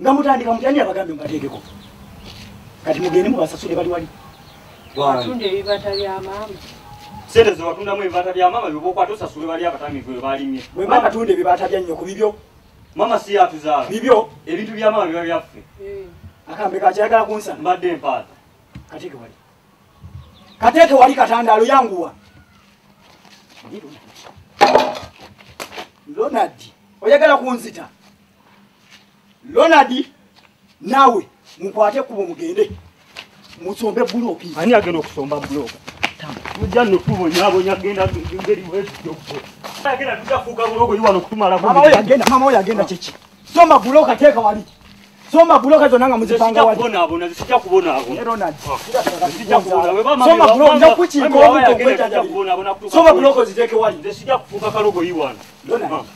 nga mutandika mutya ani abagambe mubateekeko kati mugende mubasasule bali wali watunda ebibata bya maama sente zewatundamu ebibata bya maama byobaokwata osasule bali abatamivu bwe balimye bwe maama tunda ebibata bya nnyoko bibyo maama si yatuzaala bibyo ebintu bya maama biba byaffe eh. akambe kakyayagala kunsa mbadde empaata kateeke wali kateeke wali katandaalo yanguwa ronald oyagala kunzita Ronald nawe mukwate kubo mugende musombe buloki ani agenda okusomba buloka mujja notubonyabonya genda ngeri wegenda tujafuuka bulogo iwano kutumalakmama oyo agenda mama oyo agenda kyeki soma buloka teeka wali soma buloka zona nga muzipanga wali soma buloko ziteeke wali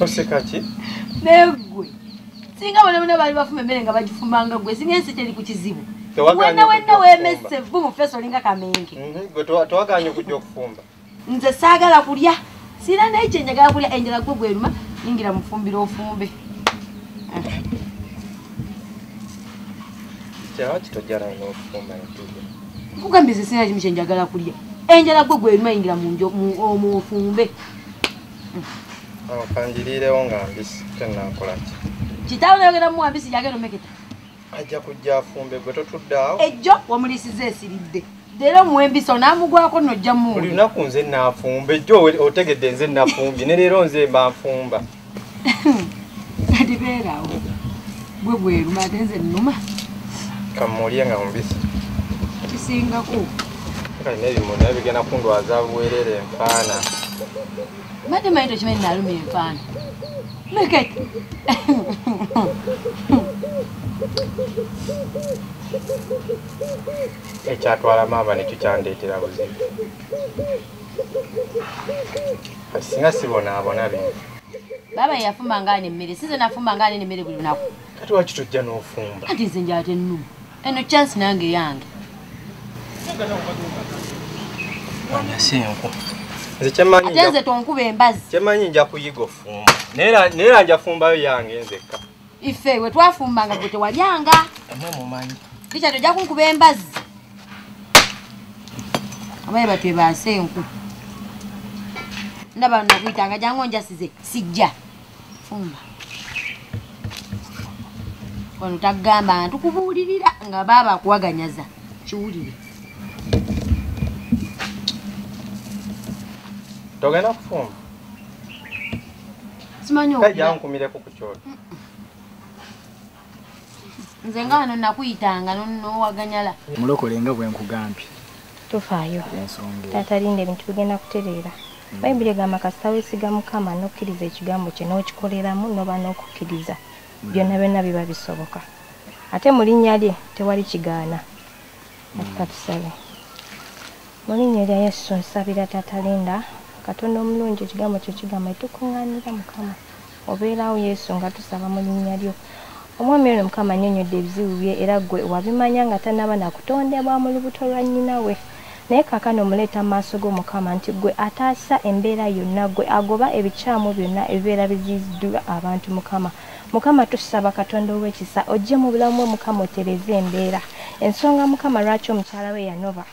Osekaki? Negwe. singa bona bona bali bafuma emmere nga bagifumanga gwe singa ensi teri ku kizibu wenna wenna wemese vu mu feesi olinga kamenge mhm, gwe tewaganye okujja okufumba nze saagala kulya sirina naye kyenjagala kulya enjala gwe gweruma yingira mufumbira ofumbe nkugambye ze sirina kimu kyenjagala kulya enjala gwe gweruma yingira mu ofumbe awo kandiriirewo nga mbisi tennakola ki kitaawo nayogera muwa mbisi yagenda omeketa ajja kujja afumbe gwe totuddaawo ejjo wamuliisiza esiridde leero muwa embisi onaamugwako nojja mu buli lunaku nze naafumba ejjo otegedde nze nafumbye ne leero nze mba nfumba ndibeerawo gwe gweruma ate nze nnuma kammulye nga mubisi kisingako kale nebimu naye bigenda kundwaza buwerere enfaana mbadde manyi tokimanyi naluma enfaana meket ekyatwala maama nekyo kyandeetera buzibu singa sibonaabona bino baaba yeyafumba ngaani emmere size nafumba ngaani nemmere buli lunaku kati wakitujja n'ofumba kati nze njatenuma eno chance nange yange nze tonkuba embazi kyemanyi nja kuyiga ofumba naye nja fumbayo yange nzekka ife we twafumbanga gwe tewalyanga tikya tojja kunkuba embazi abaye batwebaase enku ndaba nakuyitanga jangu onjasize sijja fumba wano tagamba ntu kubuulirira nga baaba akuwaganyaza kiwulire togenda kufumba simanyi ojankumireko ku kyoto nze nga wano nakuyitanga nowaganyala mulokole nga bwenkugambye tofaayo taata linda ebintu bigenda kutereera mm. bayibuli egamba kasita wesiga mukama nokkiriza ekigambo kye n'okikoleramu noba n'okukkiriza mm. byonna byonna biba bisoboka ate mu linnya lye tewali kigaana mm. katusabe mu linnya lya yesu nsabira taata linda katonda omulungi ekigambo kyo kigamba etukuŋŋaanira mukama obeerawo yesu nga tusaba mu linnya lyo omwami ono mukama anyonyodde ebizibu bye era gwe wabimanya nga tanaba nakutondebwa mu lubuto lwa nnyina we naye kakano omuleeta mu maaso g'omukama nti gwe ataasa embeera yonna gwe agoba ebikyamu byonna ebibeera biziiziddwa abantu mukama mukama tusaba katonda ow'ekisa ojje mu bulamu bwe mukama otereze embeera ensonga mukama lwaki omukyala we yanoba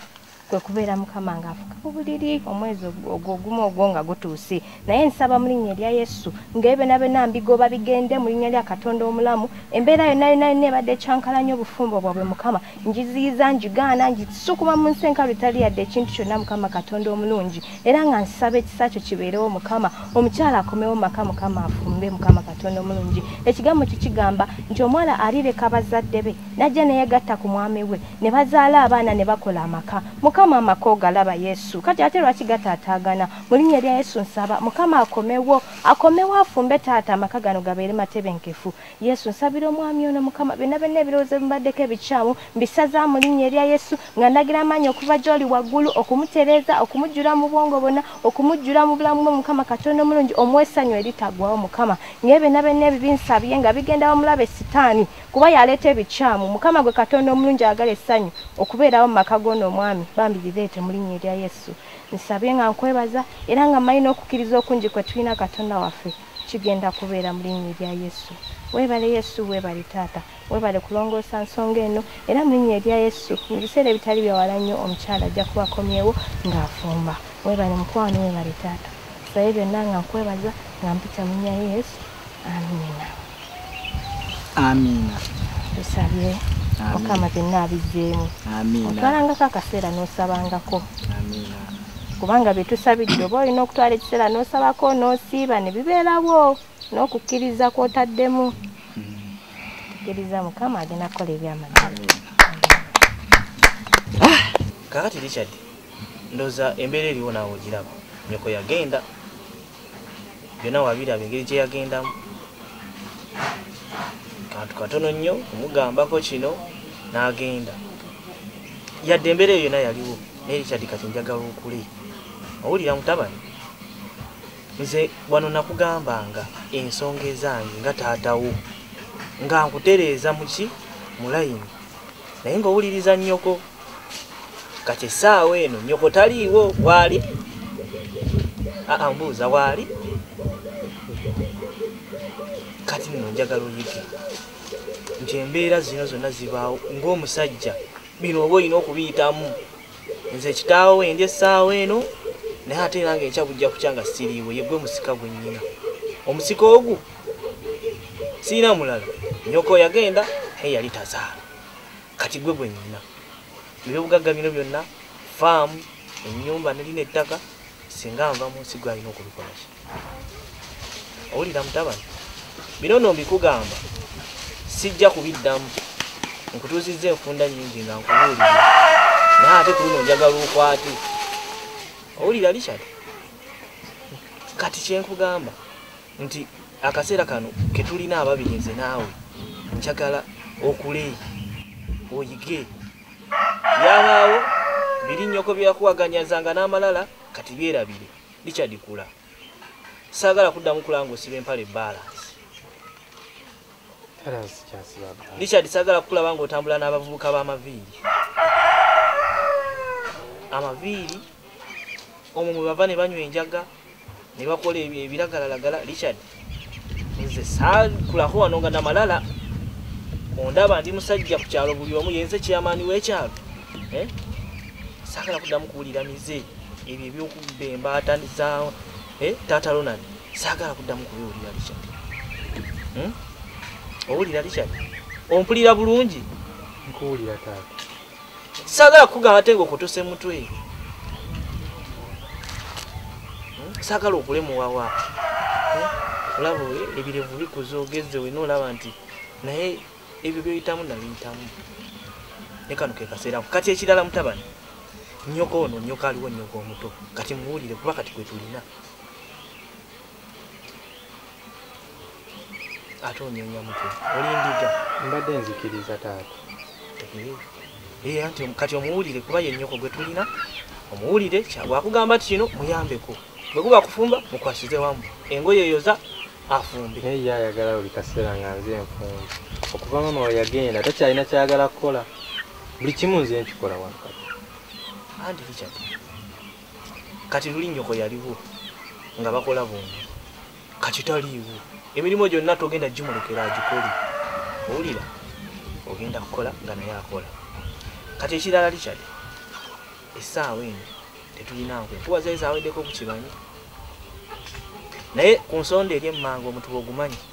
kwe kubeera mukama ng'afuka ku buliri omwezi ogwo ogumu ogwo nga gutuuse naye nsaba mu linnya erya yesu ng'ebenabena mbigoba bigende mu linnya lya katonda omulamu embeera yonna yonna yonna ebadde ekyankalanya obufumbo bwabwe mukama ngiziyiza ngigaana ngisukuma mu nsi enkalu etali yadde ekintu kyonna mukama katonda omulungi era nga nsaba ekisa kyo kibeerewo mukama omukyala akomewo maka mukama afumbe mukama katonda omulungi ekigambo kikigamba nti omwana alireka bazadde be najja neyegatta ku mwami we ne bazaala abaana ne bakola amaka mukama amaka ogalaba yesu kati ate lwaki gataataagana mu linnya erya yesu nsaba mukama akomewo akomewo afumbe taata amaka gano gabeere matebenkefu yesu nsabira omwami ono mukama byonna byonna ebirowoozo ebibaddeko ebikyamu mbisaza mu linnya erya yesu nga ndagira amaanyi okuva gy'oli waggulu okumutereeza okumujjula mu bwongo bonna okumujjula mu bulamu bwe mukama katonda omulungi omwesanyu eritagwawo mukama ngaebyo byonna byonna ebibinsabye nga bigenda wamulabe sitaani kuba yaleeta ebikyamu mukama gwe katonda omulungi agala essanyu okubeerawo mu maka g'ono omwami bambi bireete mu linnya erya yesu nsabye nga nkwebaza era nga mmanyi n'okukkiriza okungi kwe tulina katonda waffe kigenda kubeera mu linnya erya yesu weebale yesu weebale taata weebale kulongoosa nsonga eno era mu linnya erya yesu mu biseera ebitali byawala nnyo omukyala ajja kubakomyewo ng'afumba weebale mukwano weebale taata saye byonna nga nkwebaza nga mpita mu linnya yesu amiina tusabye mukama byonna abijjeemu otwalangako akaseera n'osabangako kubanga bye tusabidde oba olina okutwala ekiseera n'osabako n'osiiba ne bibeerawo n'okukkiriza kw'otaddemu tukkiriza mukama agenda kukola ebyamagero ah! kakati richard ndoza embeera eriwo naawe ogiraba nyoko yagenda byona wabiraba engeri gyeyagendamu kantu katono nnyo kumugambako kino n'agenda yadde embeera eyo yona yaliwo naye richard kati njagala okule owulira mutabani nze wano nakugambanga ensonga ezange nga taatawo nga nkutereeza muki mulayini naye ngaowuliriza nnyoko kati essaawa eno nyoko taliiwo waali ambuuza waali kati nno njagala oyige nti embeera zino zonna zibaawo ng'omusajja bino oba olina okubiyitamu nze ekitaawo wendi essaawa eno naye ate era nga enkya bujja kukya nga siriiwe yegwe musika gwe nnyina omusika ogu sirina mulala nyoko yagenda naye yali tazaala kati gwe gwenyina ebyobugagga bino byonna faamu enyumba nelina ettaka singa nva munsi gwe alina okubikolaki owulira mutabani bino no mbikugamba sijja kubiddamu nkutuuzizza enfunda nyingi nga nkubuulira naye ate ku luno njagala okwate owulira richard kati kyenkugamba nti akaseera kano ketulina ababiri nze naawe njagala okule oyige byabaawo biri nnyoko byeyakuwaganyazanga n'amalala kati byerabire richard kula saagala kuddamu kulaba nga osiba empale balance richard saagala kukulaba nga otambula n'abavubuka b'amaviiri amaviiri omwo mwe bava ne banywa enjaga ne bakola ebyo ebiragalalagala richard nze sakulako wano nga namalala ondaba ndi musajja ku kyalo buli omu yenze kyeyamaani w'ekyalo eh? sagala kuddamu kuwulira mize ebyo ebyokubba embaata za eh? taata ronald sagala kuddamu kubiwulira richard hmm? owulira richard ompulira bulungi nkuwulira taata sagala kugamba ate nga okutuse mutwe hmm? sagala okulemuwawa hmm? olaba ebirevu bikuza ogezze wena olaba nti naye ebyo byoyitamu nabiyitamu nekano kekaseeraku kati ekirala mutabani nyoko ono nyoko aliwo nyoko omuto kati muwulire kuba kati kwetulina ate onyonya mutwe olindiga mbadde nzikiriza taata ee anti kati omuwulire kuba yenyoko gwe tulina omuwulire wakugamba ti kino muyambeko bwe guba kufumba mukwasize wamu engoye eyoza afumbe naye ye ayagala buli kaseera nga nze enfumbi okuva mama we yagenda takyalina kyayagala kukola buli kimu nze nkikola wankati andi richard kati luli nyoko yaliwo nga bakola bombi kati taliiwo emirimu gyonna togenda gimulekera agikole owulira ogenda kukola nga naye akola kati ekirala likyali essaawa eno tetulina nkwe kuba zali zaweddeko ku kibanyi naye ku nsonda eri emmanga omutuba ogumanyi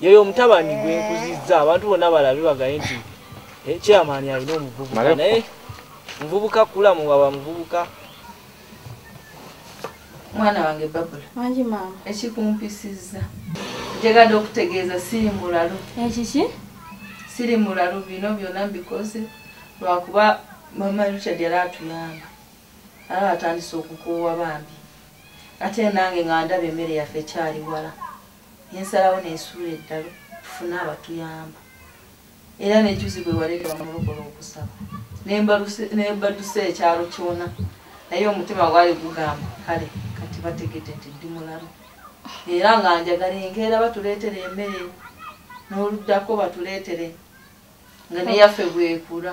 yoyo omutabani gwe nkuzizza abantu bonna balabe bagaye nti eh, chairman alina omuvubuka naye muvubuka kula muwaba muvubuka mwana wange babula wangi maama ekikumpisizza njagala okutegeeza siri mulalu ekiki siri mulalu bino byonna mbikoze lwakuba mama richard yali atuyamba aba atandise okukoowa bambi ate nange nga ndaba emmere yaffe ekyali wala nensalawo nesuula eddalu tufune abatuyamba era nejuzi bwewaleke bamulokola okusaba nebaduse ekyalo kyona naye omutima gwali gugamba kale kati bategete nti ndi mulalu era nga njagala enkeera batuleetere emere n'oluddako batuleetere nga neyaffe bwekula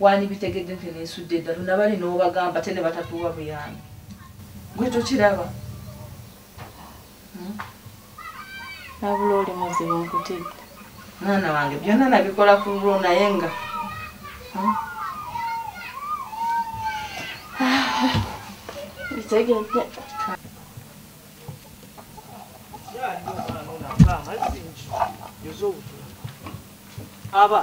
wandibitegedde nti nensudde eddalu nabali n'obagamba te ne batatuwa buyambi gwe tokiraba hmm? nabula oli muzibu nkutidde mwana wange byonna nabikola ku lulwo naye nga hmm? bitegedde aba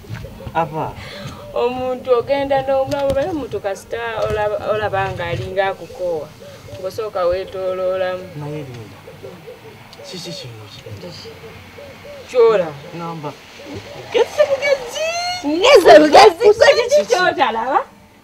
ava omuntu ogenda n'omulamu baye omuntu kasita olaba nga alinga akukoowa ngosooka weetooloolamu naye linda kiki kino kyola ngamba ogezze bugezi ngeze bugezi kiki kyotalaba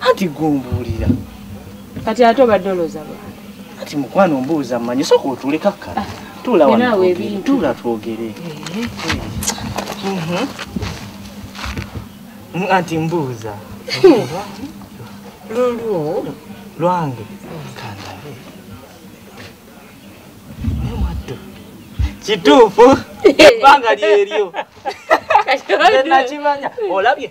anti gumbuulira kati ate obadde olooza lwa kati mukwano ombuuza mmanyi soka otuule kakkala ah, tuula wantula twogere eh. mhm. mm, anti mbuuza hmm. lulwo lwange kandabe naye mwatto kituufu ebbanga lyeryo nakimanya olabye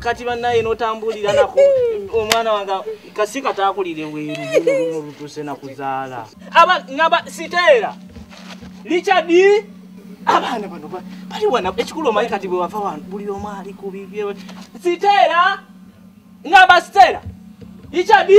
kati banaye notambulira nako omwana wange kasi katakulire weru lutuse nakuzaala aba naba siteera lichadi abaana bano bali wana ekikulu omanyi kati bwewava wano buli omu ali ku bibye siteera ngamba siteera lichadi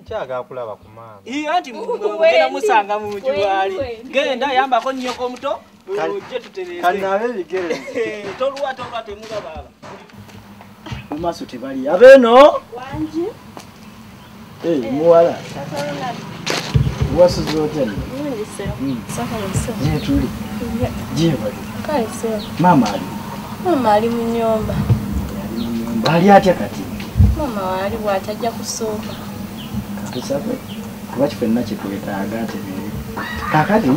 nkyagala kulaba ku maama iyo anti mugenda musanga mu nju waali genda yambako nnyoko omuto ojje tutereekanaabe ebigere tolwa tolwa temuga baaba mu maaso tebali abeeno wangi eh, muwala wasuza otya nno hmm. tuli gyebali Kale sebo. Maama ali. Maama ali mu nyumba. Ali atya kati? Maama wali bwatajja kusooka. Tusabe kuba kifenna kyetwetaaga ate biri. Kakati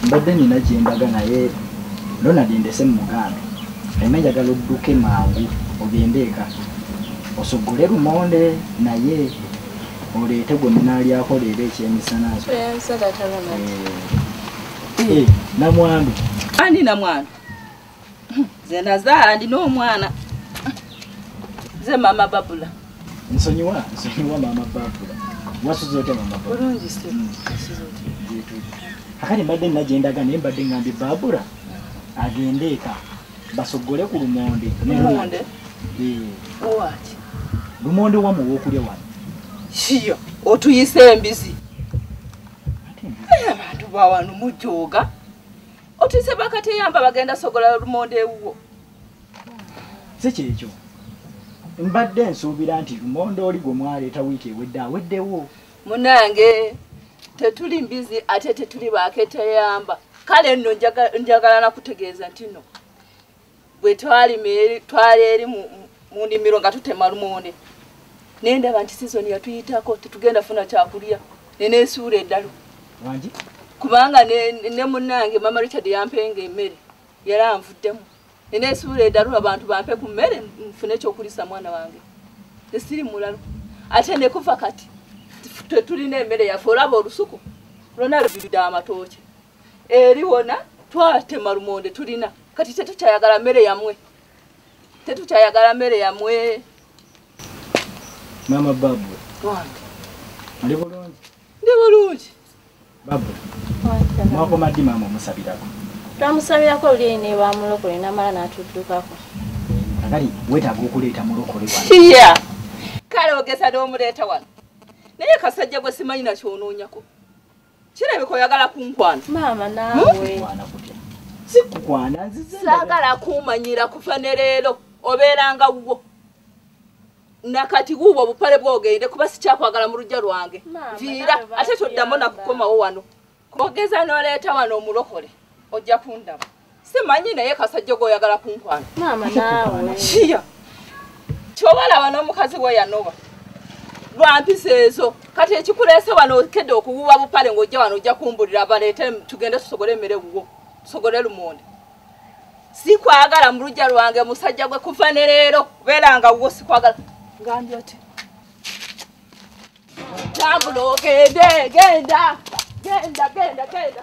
mbadde nina gyembaga naye Ronald ndese mu muganda. Ema njagala odduke mangu ogende eka osogole lumonde naye oleete gwe munaalyakoleera ekyemisana. Tuyansa tatalamaji. Eh. Eh, namwandu ani namwandu nze nazaala ndina omwana nze mama babula nsonyiwa nsonyiwa mama babula wasuza otya mama bulungi hmm. akati mbadde nagendaga naye mbadde ngambye babula agende eka basogole ku lumonde lumonde eh. wamu wokulya wano kiyo otuyise embizi abantu bawano mujooga otise bakateyamba bagenda sogola lumonde ewuwo si kyekyo mbadde nsuubira nti lumonde oli gwe mwaleeta wiiki ewedde aweddewo munange tetuli mbizi ate tetuli baketeyamba kale nno njagala nakutegeeza ntino bwe twali eri mu ndimiro nga tutema lumonde naye ndaba nti sizoni yatuyitako tetugenda funa kyakulya nenesuula eddalu kubanga ne munange mama richard yampenga emmere yali anvuddemu nenesuula eddalu abantu bampe ku mmere nfune ekyokulisa mwana wange esiri mulalu ate nekuva kati tetulina emmere yaffe olaba olusuku lwona lubirudde amatooke eri wona twatema lumonde tulina kati tetukyayagala mmere yamwe tetukyayagala mmere yamwe maama babu ndi bulungi ndi bulungi babu mwakoma ddi maama omusabirako twamusabirako olulyeyi ne bamulokole namala n'atuddukako agali wetaaga okuleeta mulokole iya kale ogeza n'omuleeta wano naye kasajja gwe simanyi nakyonoonyako Kirabika oyagala kunkwana. Maama naawe. Sikukwana nzize. Saagala kumanyira kuva ne leero obeeranga wuwo. Nakati wuwo obupale bwogende kuba sikyakwagala mu lujja lwange. Viira ate toddamu nakukomawo wano. Kogeza n'oleeta wano omulokole ojja kundaba. simanyi naye kasajja goyagala kunkwana maama naawe kiya kyobalaba n'omukazi we yanoba lwampisa ezo kati ekikuleese wano okedde okuwuwa bupale ng'ojja wano ojja kumbulira baleete tugende tusogole emmere wuwo tusogole lumonde sikwagala mu lujja lwange musajja gwe kuva ne leero beera nga wuwo sikwagala ngambye oti tambula ogende genda genda genda genda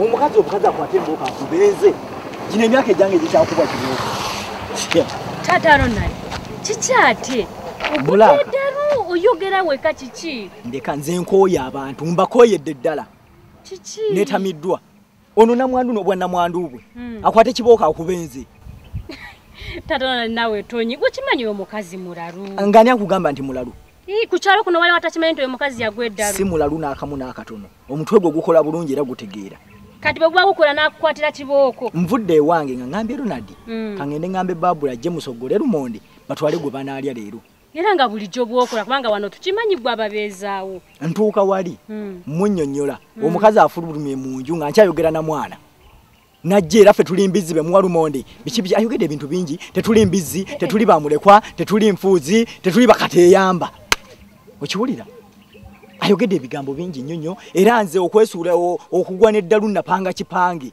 omukazi omukazi akwate embooka akubeeze gino emyaka egyange egikyakuba kibooka taata ronald kikyate ogukeddalu oyogera weka kiki ndeka nze nkooye abantu mbakooyedde ddala kiki netamiddwa ono namwandu nobwanamwandu bwe hmm. akwate kibooka akubenze taata ronald nawe tonyi gwekimanyi omukazi mulalu ngani akugamba nti mulalu kukyalo kuno waliwo atakimanyi nti oyo mukazi yagwa eddalu si mulalu n'akamu n'akatono omutwe gwo gukola bulungi era gutegeera kati bwe guba gukola n'akukwatira kibooko nvudde ewange nga ngambye ronald mm. kangende ngambe babula ajje musoggole lumonde batwale gwe banaalya leero era nga bulijjo bwokola kubanga wano tukimanyi gwe ababeezaawo ntuuka wali mm. munnyonnyola mm. omukazi afulumye mu nju nga nkyayogera na mwana najje era ffe tuli mbizzi bemuwa lumonde biki biki ayogedde ebintu bingi tetuli mbizzi tetuli bamulekwa tetuli nfuuzi tetuli bakateyamba okiwulira ayogedde ebigambo bingi nnyo nnyo era nze okwesuula okugwa n'eddalu napanga kipange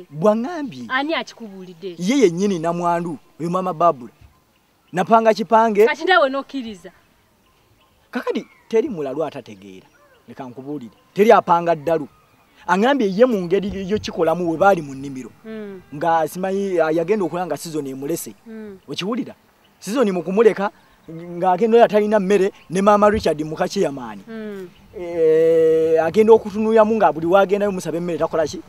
bwaŋambye ye yennyini namwandu oyo maama babula napanga kipange kati nawe nokiriza kakadi teri mulalu atategeera leka nkubuulire teri apanga ddalu angambye ye mu ngeri yo kikolamu we baali mu nnimiro hmm. nga simanyi ah, yagenda okulaba nga sizoni emulese hmm. okiwulira sizoni mu kumuleka ng'agenda oyo atalina mmere ne maama richard mukakiyamaani hmm. eh, agenda okutunuyamu nga buli wagendayo musaba emmere takolaki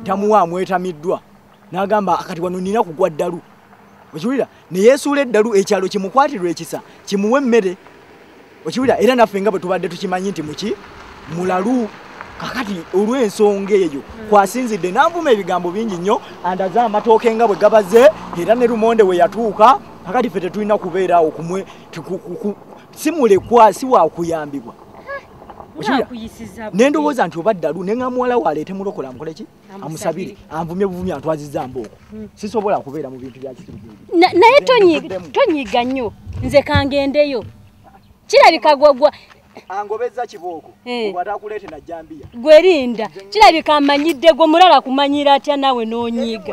tamuwa amwetamiddwa n'agamba kati wano nina kugwa ddalu okiwulira ne yeesuula eddalu ekyalo kimukwatirwa ekisa kimuwe emmere okiwulira era naffe nga bwe tubadde tukimanyi nti muki mulalu kakati olw'ensonga eyo kwasinzidde nanvuma ebigambo bingi nnyo andaze amatooke nga bwe gabaze era ne lumonde we yatuuka kakati ffe tetulina kubeera awo kumwe si mulekwa si wakuyambibwa nendowooza nti oba ddalu nenga muwala waleete mulokola mukoleki amusabire anvumye buvumi antwaziza mbooko hmm. sisobola kubeera mu bintu byakitnaye tonyiga nnyo nze kangendeyo kirabika gwagwa angobeza kibooko eh. obwatakuleete najjambiya gwerinda kirabika amanyidde gwe mulala kumanyira atya nawe nonyiga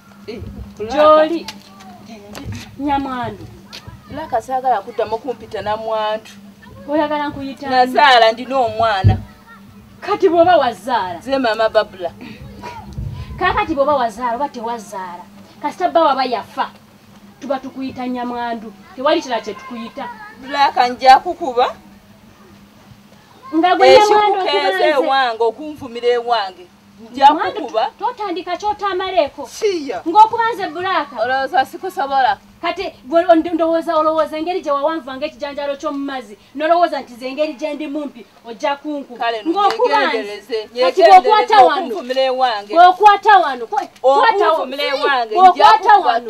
gyoli nyamwandu laka saagala kuddamu kumpita namwandu oyagala nkuyita nazaala ndina omwana kati bwoba wazaala ze maama babula kakati bwoba wazaala oba tewazaala kasita bba waba yafa tuba tukuyita nyamwandu tewali kira kyetukuyita laka nja kukuba nga gwe nyamwandu ewange okunvumira ewange njakukuba totandika kyotamaleeko ngaokuba nze bulaaka olowooza sikusobola kati ndowooza olowooza engeri gye wawanvanga ekijanjalo ky'omumazzi nolowooza nti zengeri gye ndi mumpi ojja kunkuba ngaokuba nze kati bwokwata wano bwokwata wano okwata wano